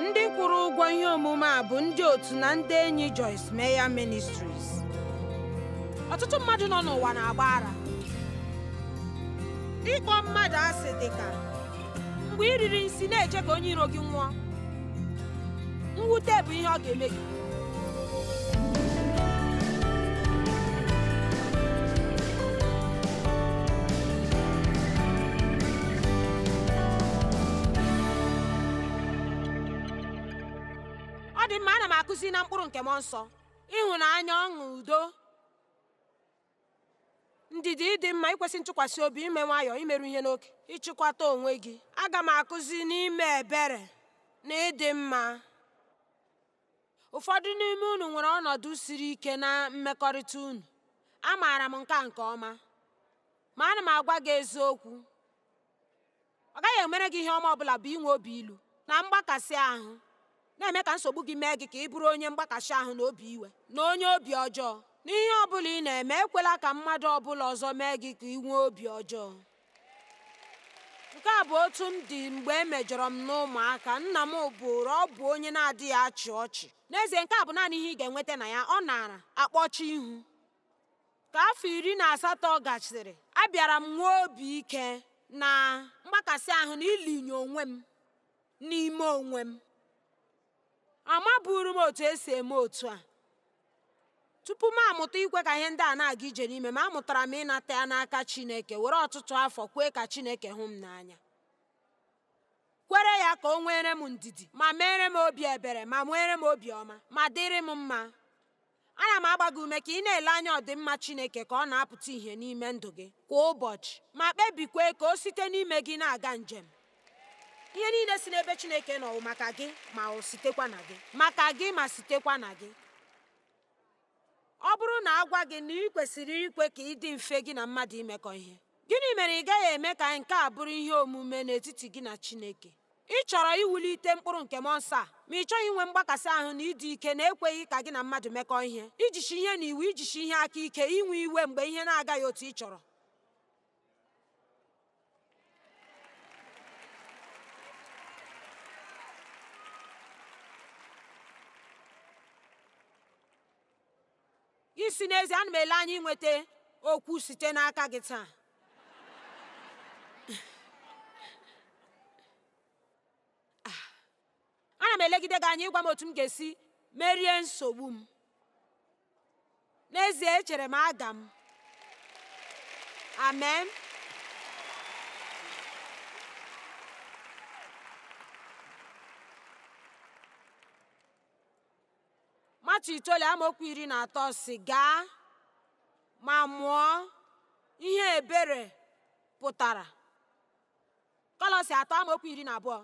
ndị kwụrụ ụgwọ ihe omume a bụ ndị otu na ndị enyi Joyce Meyer Ministries ọtụtụ mmadụ nọ n'ụwa na-agba ara ịkpọ mmadụ asị dị ka mgbe i riri nsi na-eche ka onye iro gị nwụọ mwute bụ ihe ọ ga-eme gị ọ dị mma ana m akụzi na mkpụrụ nke mmụọ nsọ ịhụnanya ọṅụ udo ndidi ịdị mma ikwesị ntụkwasị obi ime nwayọọ imeru ihe n'oke ịchịkwata onwe gị aga m akụzi n'ime ebere na ịdị mma ụfọdụ n'ime unu nwere ọnọdụ siri ike na mmekọrịta unu amaara m nke a nke ọma ma ana m agwa gị eziokwu ọ gaghị emere gị ihe ọma ọbụla bụ inwe obi ilu na mgbakasị ahụ na-eme ka nsogbu gị mee gị ka ị bụrụ onye mgbakasị ahụ na obi iwe na onye obi ọjọọ n'ihe ọbụla ị na-eme ekwela ka mmadụ ọbụla ọzọ mee gị ka ị nwee obi ọjọọ nke a bụ otu m dị mgbe e mejọrọ m n'ụmụaka nna m bụụrụ ọ bụ onye na-adịghị achị ọchị n'ezie nke a bụ naanị ihe ị ga-enweta na ya ọ naara akpọchi ihu Ka afọ iri na asatọ gasịrị, abịara m nwee obi ike na mgbakasị ahụ na ilinye onwe m n'ime onwe m. Amaburu m otu e si eme otu a. Tupu m amụta ikwe ka ihe ndị a na-aga ije n'ime m, amụtara m ịnata ya n'aka Chineke, were ọtụtụ afọ kwee ka Chineke hụ m n'anya. kwere ya ka o nweere m ndidi ma meere m obi ebere ma nweere m obiọma ma dịrị m mma ana m agba gị ume ka ị na-ele anya ọdịmma Chineke ka ọ na-apụta ìhè n'ime ndụ gị kwa ụbọchị ma kpebikwe ka o site n'ime gị na-aga njem ihe niile si n'ebe Chineke nọ maka gị ma o sitekwa na gị maka gị ma sitekwa na gị ọ bụrụ na a gwa gị na ị kwesịrị ikwe ka ị dị mfe gị na mmadụ imekọ ihe Gịnị mere ị gaghị eme ka nke a bụrụ ihe omume n'etiti gị na Chineke? Ị chọrọ iwulite mkpụrụ nke mmụọ nsọ a, ma ị chọghị inwe mgbakasị ahụ na ịdị ike na ekweghị ka gị na mmadụ mekọọ ihe, ijisi ihe na iwu, ijisi ihe aka ike, inwe iwe mgbe ihe na-agaghị otu ị chọrọ. Isi n'ezie, ana m ele anya inweta okwu site n'aka gị taa. Ah. Ana m elegide gị anya ịgwa m otu m ga-esi merie nsogbu m. N'ezie, echere m aga m. Amen. matiu itoolu amaokwu iri na atọ sị gaa ma mụọ ihe ebere pụtara kọlọsi atọ amaokwu iri na abụọ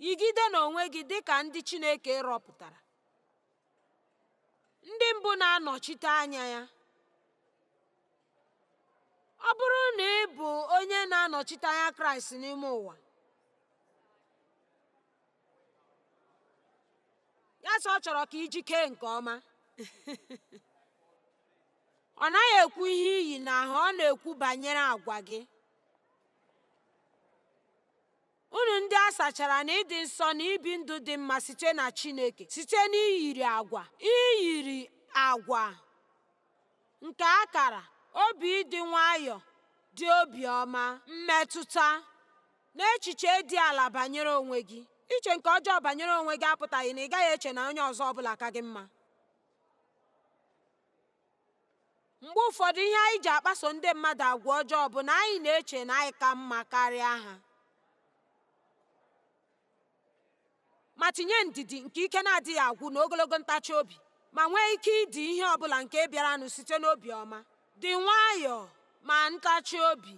yigide n'onwe gị dịka ndị chineke rọpụtara ndị mbụ na-anọchite anya ya ọ bụrụ na ị bụ onye na-anọchite anya kraịst n'ime ụwa ya sị ọ chọrọ ka i jikee nke ọma ọ naghị ekwu ihe iyi n'ahụ ọ na-ekwu banyere agwa gị unu ndị a sachara na ịdị nsọ na ibi ndụ dị mma site na Chineke site n'iyiri agwa iyiri agwa nke akara obi ịdị nwayọọ dị obiọma mmetụta N'echiche dị ala banyere onwe gị, iche nke ọjọọ banyere onwe gị apụtaghị na ị gaghị eche na onye ọzọ ọ bụla ka gị mma. Mgbe ụfọdụ ihe anyị ji akpaso ndị mmadụ agwa ọjọọ bụ na anyị na-eche na anyị ka mma karịa ha. ma tinye ndidi nke ike na-adịghị agwụ na ogologo ntachi obi ma nwee ike idi ihe ọ bụla nke bịaranụ site n'obi ọma dị nwayọọ ma ntachi obi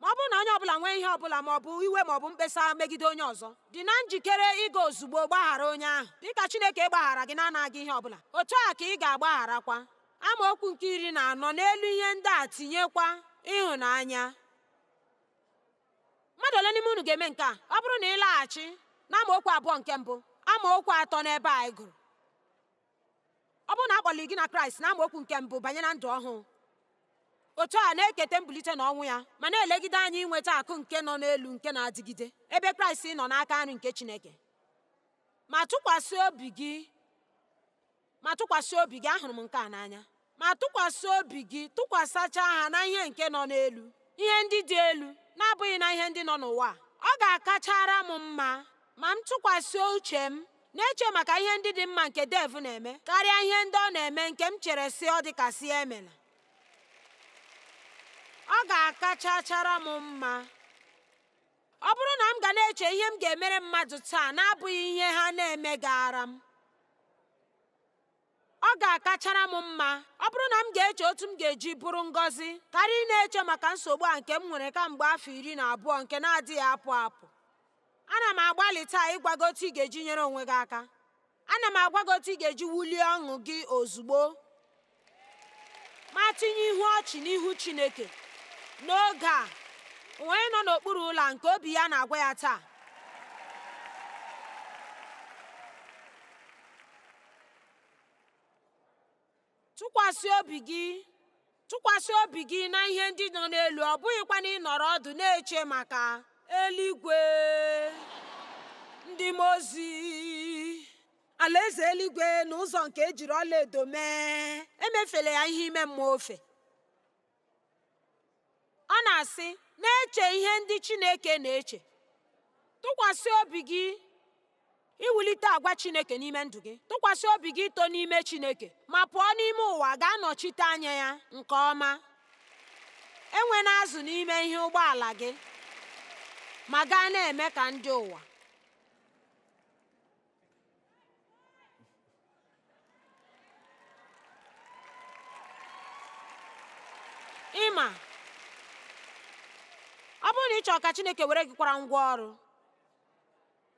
ma ọ bụrụ na onye ọbụla nwee ihe ọbụla ma ọ bụ iwe ma ọ bụ mkpesa megide onye ọzọ dị na njikere ịga ozugbo gbaghara onye ahụ dịka Chineke gbaghara gị na-anaghị ihe ọbụla otu a ka ị ga-agbagharakwa amaokwu nke iri na anọ n'elu ihe ndị a tinyekwa ịhụnanya Mmadụ ole n'ime unu ga-eme nke a? Ọ bụrụ na ị laghachi n'amaokwu abụọ nke mbụ, amaokwu atọ n'ebe anyị gụrụ, ọ bụrụ na a kpọliri gị na Kraịst na amaokwu nke mbụ banye na ndụ ọhụụ, otu a na-eketa mbulite na ọnwụ ya ma na-elegide anya inweta akụ nke nọ n'elu nke na-adịgide ebe Kraịst nọ n'aka nri nke Chineke. Ma tụkwasị obi gị Ma tụkwasị obi gị, ahụrụ m nke a n'anya, ma tụkwasị obi gị, tụkwasachaa ha na ihe nke nọ n'elu, ihe ndị dị elu, na-abụghị na ihe ndị nọ n'ụwa. Ọ ga-akachara m mma ma m tụkwasị uche m na-eche maka ihe ndị dị mma nke Dave na-eme karịa ihe ndị ọ na-eme nke m chere sị ọ dịka sị ya emela. Ọ ga-akachachara m mma. Ọ bụrụ na m ga na-eche ihe m ga-emere mmadụ taa na-abụghị ihe ha na-emegaara m, ọ ga-akachara m mma ọ bụrụ na m ga-eche otu m ga-eji bụrụ ngọzi karịa ị na-eche maka nsogbu a nke m nwere kamgbe afọ iri na abụọ nke na-adịghị apụ apụ. Ana m agbalị taa ịgwa gị otu ị ga-eji nyere onwe gị aka. ana m agwa gị otu ị ga-eji wulie ọṅụ gị ozugbo ma tinye ihu ọchị n'ihu Chineke n'oge a onye nọ n'okpuru ụlọ nke obi ya na-agwa ya taa Tụkwasị obi gị tụkwasị obi gị na ihe ndị nọ n'elu, ọ bụghịkwanụ ịnọrọ ọdụ na-eche maka eluigwe, ndị mmụọ ozi, alaeze eluigwe na ụzọ nke ejiri ọlaedo mee. Emefela ya ihe ime mmụọ ofe. ọ na-asị na-eche ihe ndị chineke na-eche tụkwasị obi gị iwulite agwa chineke n'ime ndụ gị tụkwasị obi gị ito n'ime chineke ma pụọ n'ime ụwa gaa nọchite anya ya nke ọma enwena azụ n'ime ihe ụgbọala gị ma gaa na-eme ka ndị ụwa ị ma ọ bụrụ na ị chọrọ ka Chineke were gị kwara ngwa ọrụ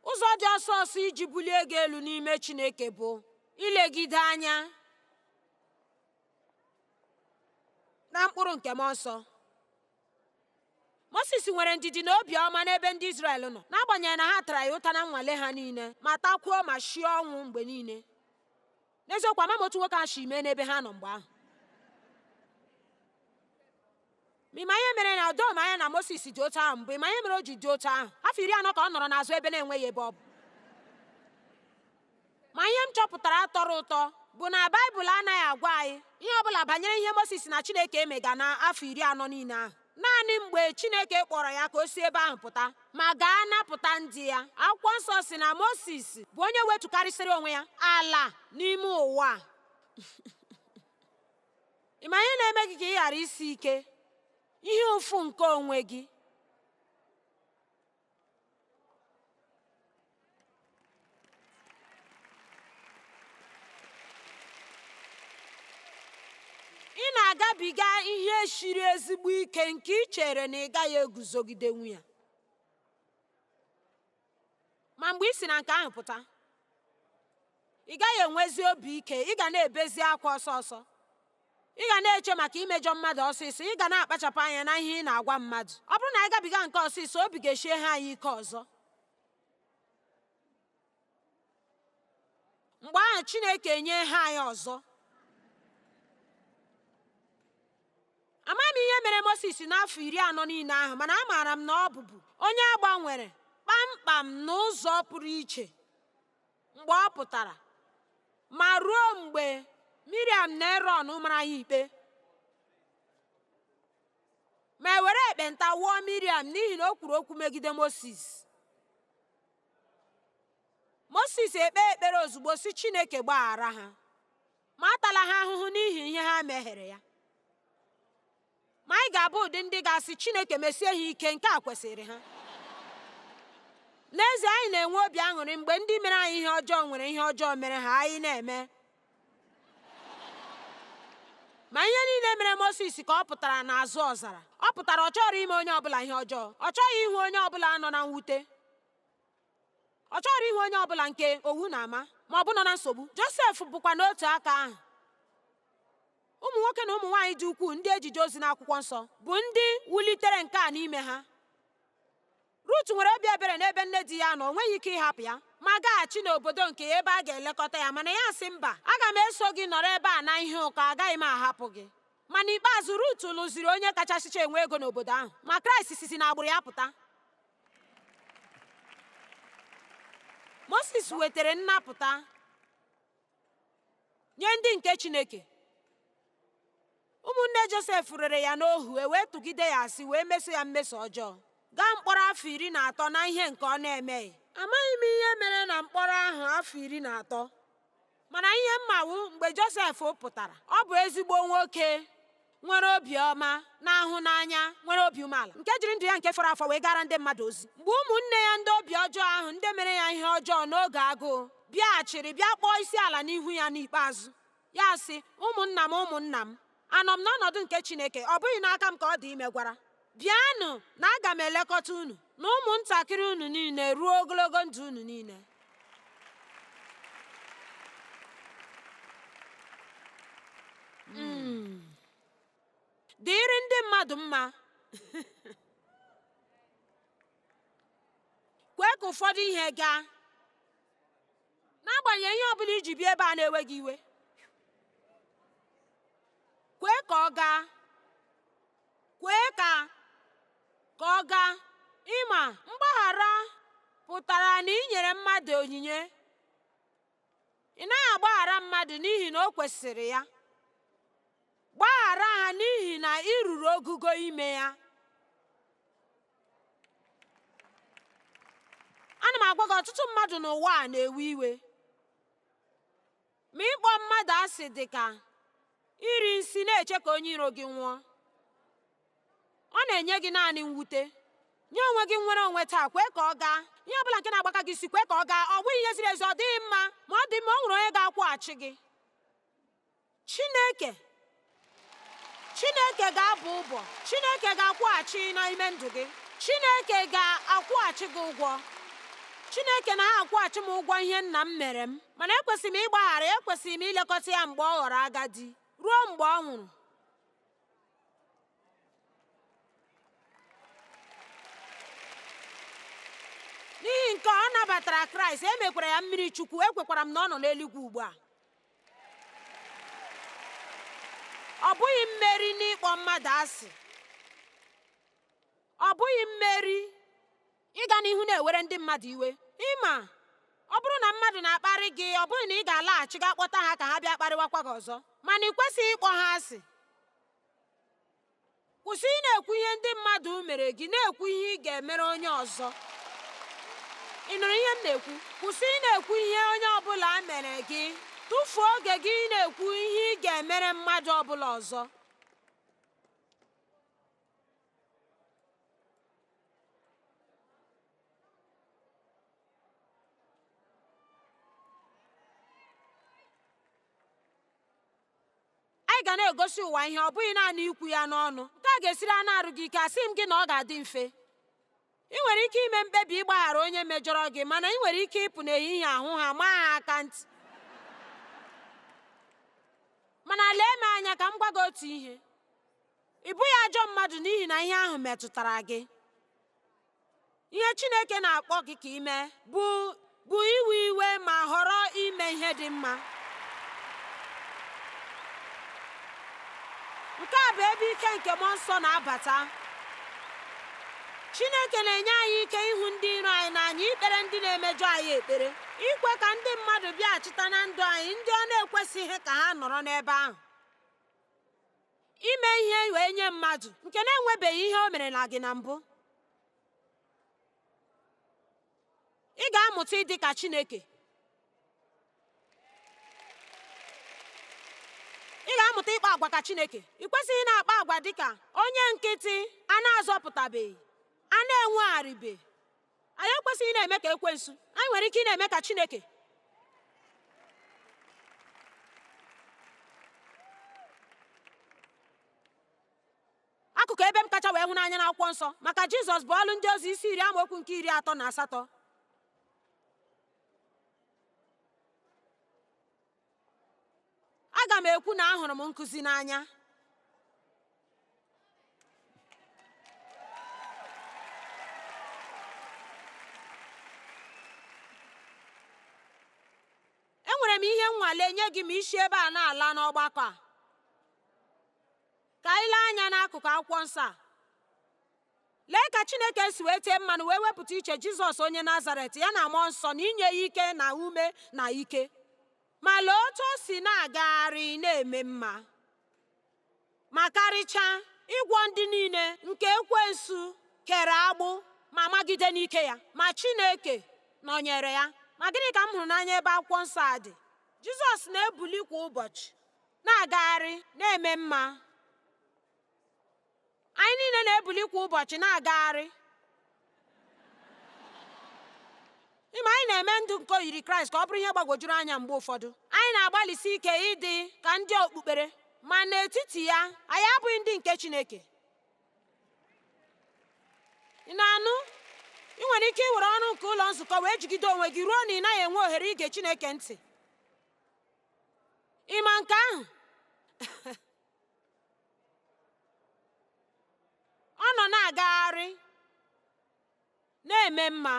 ụzọ dị ọsọ ọsọ iji bulie gị elu n'ime Chineke bụ ilegide anya na mkpụrụ nke mmụọ nsọ Mosis nwere ndidi na obiọma n'ebe ndị Izrel nọ n'agbanyeghị na ha tara ya ụta na nnwale ha niile ma takwuo ma shie ọnwụ mgbe niile n'eziokwu amaghị m otu nwoke ahụ si mee n'ebe ha nọ mgbe ahụ ma ị ma ihe mere na o doghị m anya na Mosis dị otu ahụ mgbe ị ma ihe mere o ji dị otu ahụ afọ iri anọ ka ọ nọrọ n'azụ ebe na-enweghị ebe ọ bụ Ma ihe m chọpụtara tọrọ ụtọ bụ na Baịbụl anaghị agwa anyị ihe ọ bụla banyere ihe Mosis na Chineke emega n'afọ iri anọ niile ahụ. Naanị mgbe Chineke kpọrọ ya ka o si ebe ahụ pụta ma gaa napụta ndị ya. Akwụkwọ nsọ sị na Mosis bụ onye wetukarịsịrị onwe ya ala n'ime ụwa. Ị ma ihe na-eme gị ka ị ghara isi ike? Ihe ụfụ nke onwe gị. ị na-agabiga ihe shiri ezigbo ike nke ị chere na ị gaghị eguzogidenwu ya ma mgbe ị si na nke ahụ pụta ị gaghị enwezi obi ike ị ga na-ebezi akwa ọsọ ọsọ ị ga na-eche maka imejọ mmadụ ọsịsọ ị ga na-akpachapụ anya na ihe ị na-agwa mmadụ ọ bụrụ na anyị gabiga nke ọsịsọ obi ga-eshie ha anyị ike ọzọ mgbe ahụ Chineke enye ha anyị ọzọ amaghị m ihe mere Mosis n'afọ iri anọ niile ahụ mana amaara m na ọ bụbu onye a gbanwere kpamkpam n'ụzọ pụrụ iche mgbe ọ pụtara ma ruo mgbe miriam na erọn mara ya ikpe ma e were ekpenta wụọ miriam n'ihi na o kwuru okwu megide moses moses ekpee ekpere ozugbo sị chineke gbaghara ha ma atala ha ahụhụ n'ihi ihe ha mehiere ya Ma anyị ga-abụ ụdị ndị ga-asị Chineke mesie ha ike, nke a kwesịrị ha. N'ezie, anyị na-enwe obi aṅụrị mgbe ndị mere anyị ihe ọjọọ nwere ihe ọjọọ mere ha anyị na-eme. Ma ihe niile mere Mosis ka ọ pụtara n'azụ ọzara. Ọ pụtara ọ chọrọ ime onye ọbụla ihe ọjọọ. Ọ chọghị ịhụ onye ọbụla nọ na mwute. Ọ chọrọ ịhụ onye ọbụla nke owu na-ama ma ọ bụ nọ na nsogbu. Josef bụkwa n'otu aka ahụ. ụmụ nwoke na ụmụ nwaanyị dị ukwuu ndị e ji jee ozi n'akwụkwọ nsọ bụ ndị wulitere nke a n'ime ha Rut nwere obi ebere n'ebe nne di ya nọ o nweghị ike ịhapụ ya ma gaghachi n'obodo nke ya ebe a ga-elekọta ya mana ya sị mba aga m eso gị nọrọ ebe a na ihe ụkọ agaghị m ahapụ gị ma n'ikpeazụ Rut lụziri onye kachasịcha enwe ego n'obodo ahụ ma Kraịst sizi n'agbụrụ ya pụta Moses wetara nnapụta nye ndị nke chineke ụmụnne josef rere ya n'ohu e wee tụgide ya asị wee meso ya mmeso ọjọọ gaa mkpọrọ afọ iri na atọ na ihe nke ọ na-emeghị amaghị m ihe mere na mkpọrọ ahụ afọ iri na atọ mana ihe m ma wụ mgbe josef pụtara ọ bụ ezigbo nwoke nwere obi ọma, na-ahụ n'anya, nwere obi umeala, nke jiri ndụ ya nke fọrọ afọ wee gaara ndị mmadụ ozi. Mgbe ụmụnne ya ndị obi ọjọọ ahụ, ndị mere ya ihe ọjọọ n'oge agụụ, bịaghachiri bịa kpọọ isi ala n'ihu ya n'ikpeazụ, ya sị, Ụmụnna m, ụmụnna m, anọ m n'ọnọdụ nke Chineke, ọ bụghị n'aka m ka ọ dị imegwara. Bịanụ na aga m elekọta unu na ụmụntakịrị unu niile ruo ogologo ndụ unu niile. Mm. Dịrị ndị mmadụ mma. Kwee ka ụfọdụ ihe gaa. N'agbanyeghị ihe ọ bụla i ji bịa ebe a na-ewe gị iwe. Kwee ka ọ gaa. kwee ka ka ọ gaa ị ma mgbaghara pụtara na ị nyere mmadụ onyinye ị naghị agbaghara mmadụ n'ihi na o kwesịrị ya gbaghara ha n'ihi na ị ruru ogugo ime ya ana m agwa gị ọtụtụ mmadụ n'ụwa a na-ewe iwe Ma ịkpọ mmadụ asị dị ka iri nsi na-eche ka onye iro gị nwụọ. Ọ na-enye gị naanị mwute. Nye onwe gị nnwere onwe taa, kwee ka ọ gaa. Ihe ọ bụla nke na-agbaka gị isi, kwee ka ọ gaa. Ọ bụghị ihe ziri ezi, ọ dịghị mma, ma ọ dị mma, o nwere onye ga-akwụghachi gị. Chineke Chineke ga-abọ ọbọ Chineke ga-akwụghachi n'ime ndụ gị Chineke ga-akwụghachi gị ụgwọ Chineke na-akwụghachi m ụgwọ ihe nna m mere m mana ekwesịrị m ịgbaghara ekwesịrị m ilekọta ya mgbe ọ ghọrọ agadi ruo mgbe ọ nwụrụ n'ihi nke ọ nabatara kraịst e mekwara ya mmiri chukwu ekwekwara m na ọ nọ n'eluigwe ugbu a ọ bụghị mmeri n'ịkpọ mmadụ asị ọ bụghị mmeri ịga n'ihu na-ewere ndị mmadụ iwe ị ma ọ bụrụ na mmadụ na-akparị gị ọ bụghị na ị ga-alaghachi gaa kpọta ha ka ha bịa kparịwakwa gị ọzọ mana ị kwesịghị ịkpọ ha asị Kwụsị ịna-ekwu ihe ndị mmadụ mere gị na-ekwu ihe ị ga-emere onye ọzọ. Ị nụrụ ihe m na-ekwu? Kwụsị ịna-ekwu ihe onye ọbụla mere gị. Tụfuo oge gị ịna-ekwu ihe ị ga-emere mmadụ ọbụla ọzọ. Anyị ga na-egosi ụwa ihe, ọ bụghị naanị ikwu ya n'ọnụ. Nke a ga-esiri anụ arụ gị ike, asịghị m gị na ọ ga-adị mfe. Ị nwere ike ime mkpebi ịgbaghara onye mejọrọ gị, mana ị nwere ike ịpụ n'ehihie a hụ ha maa ha aka ntị. Mana lee m anya ka m gwa gị otu ihe. Ị bụghị ajọ mmadụ n'ihi na ihe ahụ metụtara gị. ihe chineke na-akpọ gị ka i mee bụ iwe iwe ma họrọ ime ihe dị mma nke a bụ ebe ike nke mmụọ nsọ na-abata chineke na-enye anyị ike ịhụ ndị iro anyị n'anya ikpere ndị na-emejọ anyị ekpere ikwe ka ndị mmadụ bịaghachita na ndụ anyị ndị ọ na-ekwesịghị ka ha nọrọ n'ebe ahụ ime ihe wee nye mmadụ nke na-enwebeghị ihe o mere na gị na mbụ ị ga-amụta ịdị ka Chineke ị ga-amụta ịkpa agwa ka Chineke ị kwesịghị na-akpa agwa dị ka onye nkịtị a na-azọpụtabeghị a na-enwegharịbe Anyị ekwesịghị na-eme ka ekwensu, anyị nwere ike ị na-eme ka Chineke. Akụkụ ebe m kacha wee hụ n'anya n'akwụkwọ nsọ maka Jizọs bụ ọlụ ndị ozi isi iri amaokwu nke iri atọ na asatọ aga m ekwu na ahụrụ m nkụzi n'anya enwere m ihe nnwale nye gị ma i si ebe a na-ala n'ọgbakọ a ka anyị lee anya n'akụkụ akwụkwọ nsọ a lee ka chineke si wee tee mmanụ wee wepụta iche jizọs onye nazaret ya na mmụọ nsọ na inye ya ike na ume na ike ma lee otu o si na-agagharị na-eme mma ma karịchaa ịgwọ ndị niile nke ekwensu kere agbụ ma magide n'ike ya ma chineke nọnyere ya ma gịnị ka m hụrụ n'anya ebe akwụkwọ nsọ a dị jizọs na-ebuli kwa ụbọchị na-agagharị na-eme mma Anyị niile na-ebuli kwa ụbọchị na-agagharị. Ị ma, anyị na-eme ndụ nke oyiri Kraịst ka ọ bụrụ ihe gbagwojuru anya mgbe ụfọdụ. Anyị na-agbalịsi ike ịdị ka ndị okpukpere, ma n'etiti ya, anyị abụghị ndị nke Chineke. Ị na-anụ? Ị nwere ike iwere ọrụ nke ụlọ nzukọ wee jigide onwe gị ruo na ị naghị enwe ohere ige Chineke ntị. Ị ma nke ahụ? ọ nọ na-agagharị na-eme mma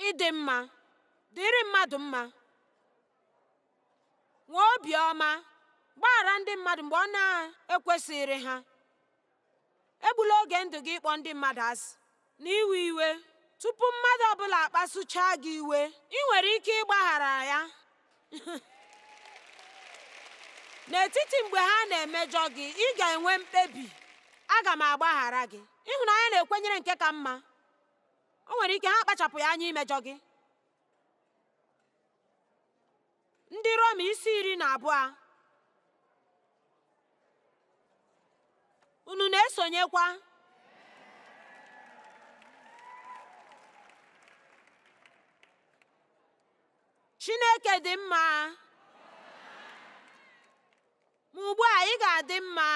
ịdị mma dịrị mmadụ mma nwee obiọma gbaghara ndị mmadụ mgbe ọ na-ekwesịghịrị ha egbula oge ndụ gị ịkpọ ndị mmadụ asị na iwe iwe tupu mmadụ ọbụla akpasuchaa gị iwe ị nwere ike ịgbaghara ya n'etiti mgbe ha na-emejọ gị ị ga-enwe mkpebi aga m agbaghara gị ịhụnanya na-ekwenyere nke ka mma o nwere ike ha akpachapụghị anya imejọ gị ndị Rom isi iri na abụọ unu na-esonyekwa Chineke dị mma ma ugbu a ị ga-adị mma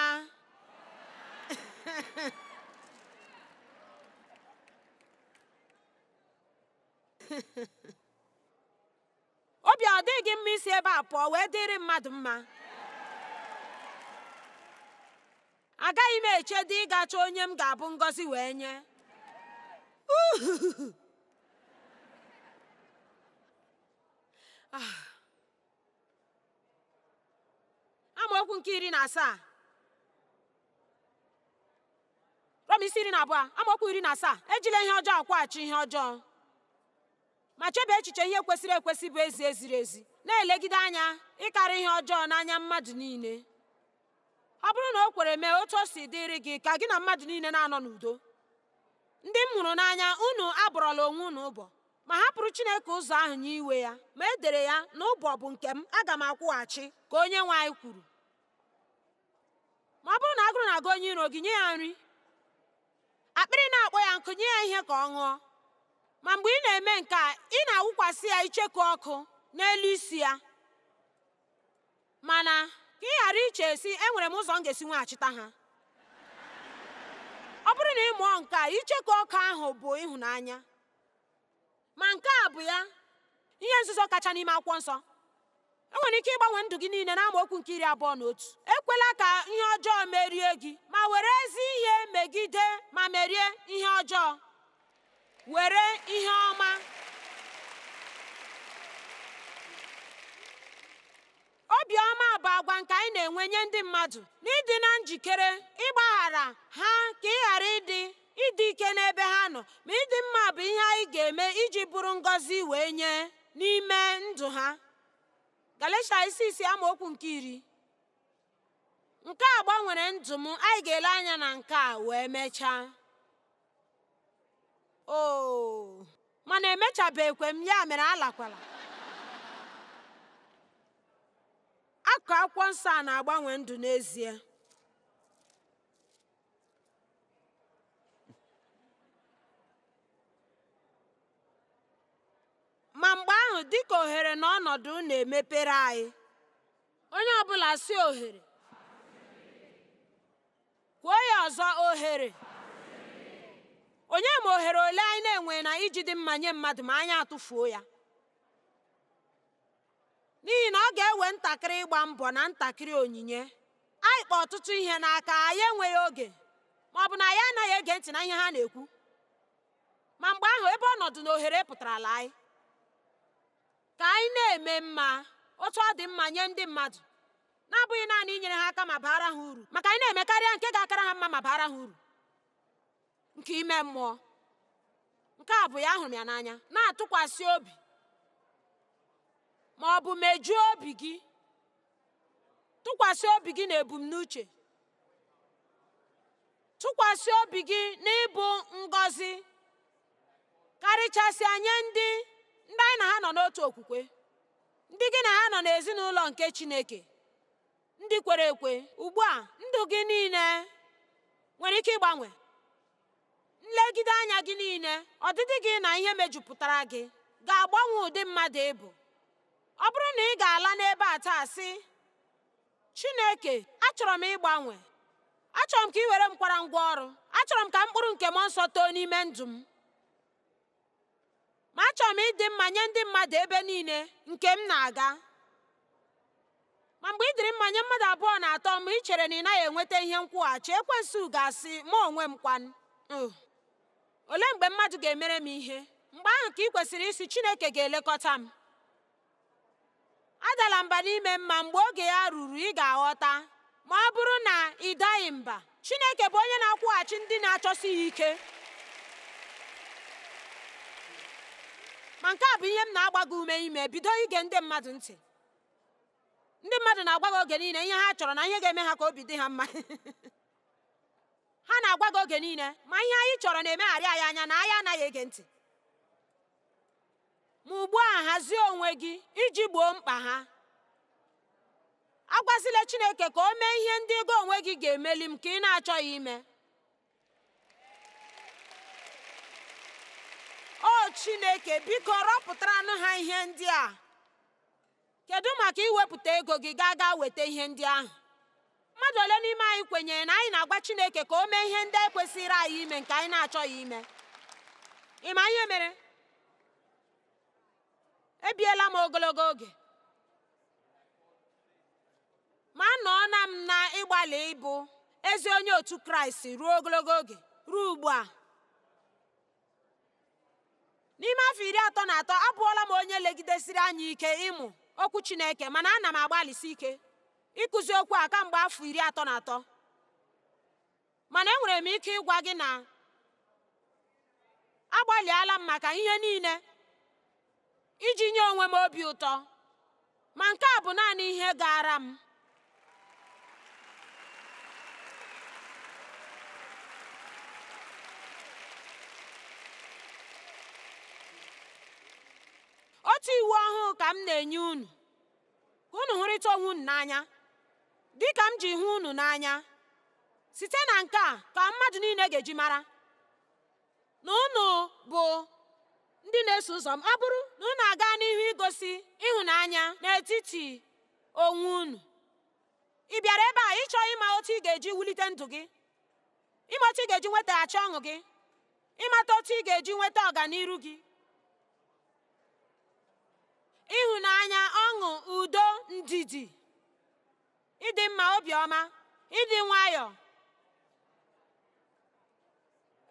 obi ọ dị gị mma isi ebe a pụọ wee dịrị mmadụ mma agaghị m echedị ịga chọọ onye m ga-abụ ngọzi wee nye ah. amaokwu nke iri na asaa rom isi iri na abụọ amaokwu iri na asaa ejila ihe ọjọọ akwụghachi ihe ọjọọ ma chebe echiche ihe kwesịrị ekwesị bụ ezi eziri ezi na-elegide anya ịkarị ihe ọjọọ n'anya mmadụ niile ọ bụrụ na o kwere mee otu o si dịrị gị ka gị na mmadụ niile na-anọ n'udo ndị m hụrụ n'anya unu abọrọla onwe unu ọbọ ma hapụrụ Chineke ụzọ ahụ nye iwe ya ma e dere ya na ọbọ bụ nke m aga m akwụghachi ka onye nwe anyị kwuru ma ọ bụrụ na agụrụ na-agụ onye iro gị nye ya nri Akpịrị na-akpọ ya nkụ, nye ya ihe ka ọ ṅụọ. Ma mgbe ị na-eme nke a, ị na-awụkwasị ya icheku ọkụ n'elu isi ya. Mana ka ị ghara iche sị enwere m ụzọ m ga-esi nweghachita ha. Ọ bụrụ na ị mụọ nke a, icheku ọkụ ahụ bụ ịhụnanya. Ma nke a bụ ya ihe nzuzo kacha n'ime akwụkwọ nsọ enwere ike ịgbanwe ndụ gị niile na amaokwu nke iri abụọ na otu ekwela ka ihe ọjọọ merie gị ma were ezi ihe megide ma merie ihe ọjọọ were ihe ọma Obiọma bụ agwa nke anyị na-enwe nye ndị mmadụ n'ịdị na njikere ịgbaghara ha ka ị ghara ịdị ịdị ike n'ebe ha nọ ma ịdị mma bụ ihe anyị ga-eme iji bụrụ ngọzi wee nye n'ime ndụ ha Galatia isi isi amaokwu nke iri nke a gbanwere ndụ m anyị ga-ele anya na nke a wee mechaa oo mana emechabeghịkwa m ya mere alakwala akụkụ akwụkwọ nsọ a na-agbanwe ndụ n'ezie ma mgbe ahụ dịka ohere na ọnọdụ na-emepere anyị onye ọbụla sị ohere Kwuo ya ọzọ, ohere. Onye ma ohere ole anyị na-enwe na iji dị mma nye mmadụ ma anyị atụfuo ya? N'ihi na ọ ga-ewe ntakịrị ịgba mbọ na ntakịrị onyinye, anyị kpa ọtụtụ ihe n'aka, anyị enweghị oge, ma ọ bụ na anyị anaghị ege ntị na ihe ha na-ekwu. Ma mgbe ahụ, ebe ọnọdụ na ohere pụtarala anyị. Ka anyị na-eme mma otu ọ dị mma nye ndị mmadụ, na-abụghị naanị inyere ha aka ma baara ha uru, ma ka anyị na-eme karịa nke ga-akara ha mma ma baara ha uru nke ime mmụọ. Nke a bụ ya ahụrụ m ya n'anya, na-atụkwasị obi ma ọ bụ mejuo obi gị tụkwasị obi gị na ebumnuche tụkwasị obi gị n'ịbụ ngọzi karịchasịa nye ndị ndị anyị na ha nọ n'otu okwukwe ndị gị na ha nọ n'ezinụlọ nke Chineke ndị kwere ekwe ugbu a ndụ gị niile nwere ike ịgbanwe Nlegide anya gị niile, ọdịdị gị na ihe mejupụtara gị ga-agbanwe ụdị mmadụ ị bụ. Ọ bụrụ na ị ga-ala n'ebe a taa sị, Chineke, achọrọ m ịgbanwe. Achọrọ m ka ị were m kwara ngwa ọrụ. Achọrọ m ka mkpụrụ nke Mmụọ Nsọ too n'ime ndụ m. ma achọrọ m ịdị mma nye ndị mmadụ ebe niile nke m na-aga ma mgbe ị dịrị mma nye mmadụ abụọ na atọ ma ị chere na ị naghị enweta ihe nkwụghachi ekwensu ga-asị mụ onwe m kwanụ olee mgbe mmadụ ga-emere m ihe mgbe ahụ ka ị kwesịrị ịsị chineke ga-elekọta m adala mba n'ime mma mgbe oge ya ruru ị ga-aghọta ma ọ bụrụ na ị daghị mba Chineke bụ onye na-akwụghachi ndị na-achọsi ya ike ma nke a bụ ihe m na-agba gị ume ime bido ige ndị mmadụ ntị ndị mmadụ na-agwa gị oge niile ihe ha chọrọ na ihe ga-eme ha ka obi dị ha mma ha na-agwa gị oge niile ma ihe anyị chọrọ na-emegharị anyị anya na anyị anaghị ege ntị Ma ugbu a hazie onwe gị iji gboo mkpa ha. Agwazila Chineke ka o mee ihe ndị gị onwe gị ga-emeli nke ị na-achọghị ime. O Chineke, biko rọpụtaranụ ha ihe ndị a. Kedụ maka iwepụta ego gị gaa gaa weta ihe ndị ahụ? Mmadụ ole n'ime anyị kwenyere na anyị na-agwa Chineke ka o mee ihe ndị e kwesịrị anyị ime nke anyị na-achọghị ime? Ị ma ihe mere? Ebiela m ogologo oge ma anọọna m na ịgbalị ịbụ ezi onye otu Kraịst ruo ogologo oge ruo ugbu a. n'ime afọ iri atọ na atọ abụọla m onye legidesiri anya ike ịmụ okwu chineke mana ana m agbalịsi ike ịkụzi okwu a kamgbe afọ iri atọ na atọ mana enwere m ike ịgwa gị na agbalịala m maka ihe niile iji nye onwe m obi ụtọ, ma nke a bụ naanị ihe gaara m. Otu iwu ọhụụ ka m na-enye unu, ka unu hụrịta onwe unu n'anya, dị ka m ji hụ unu n'anya. Site na nke a ka mmadụ niile ga-eji mara na unu bụ ndị na-eso ụzọ m ọ bụrụ na unu aga n'ihu igosi ịhụnanya n'etiti onwe unu ị bịara ebe a ịchọ ịma otu ị ga-eji wulite ndụ gị ịma otu ị ga-eji nwetaghachi ọṅụ gị ịmata otu ị ga-eji nweta ọganiru gị ịhụnanya ọṅụ udo ndidi ịdị mma obiọma ịdị nwayọọ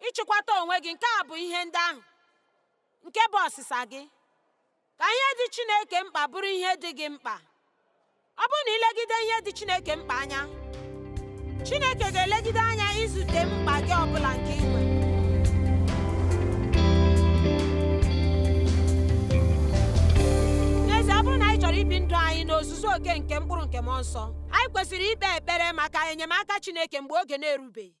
ịchịkwata onwe gị nke a bụ ihe ndị ahụ nke bụ ọsịsa gị ka ihe dị Chineke mkpa bụrụ ihe dị gị mkpa ọ bụrụ na i legide ihe dị Chineke mkpa anya Chineke ga-elegide anya izute mkpa gị ọbụla nke ị nwere n'ezie ọ bụrụ na anyị chọrọ ibi ndụ anyị n'ozuzu oke nke mkpụrụ nke mmụọ nsọ anyị kwesịrị ikpe ekpere maka enyemaka Chineke mgbe oge na-erubeghị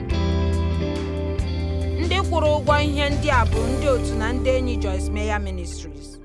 ndị kwụrụ ụgwọ ihe ndị a bụ ndị otu na ndị enyi Joyce Meyer Ministries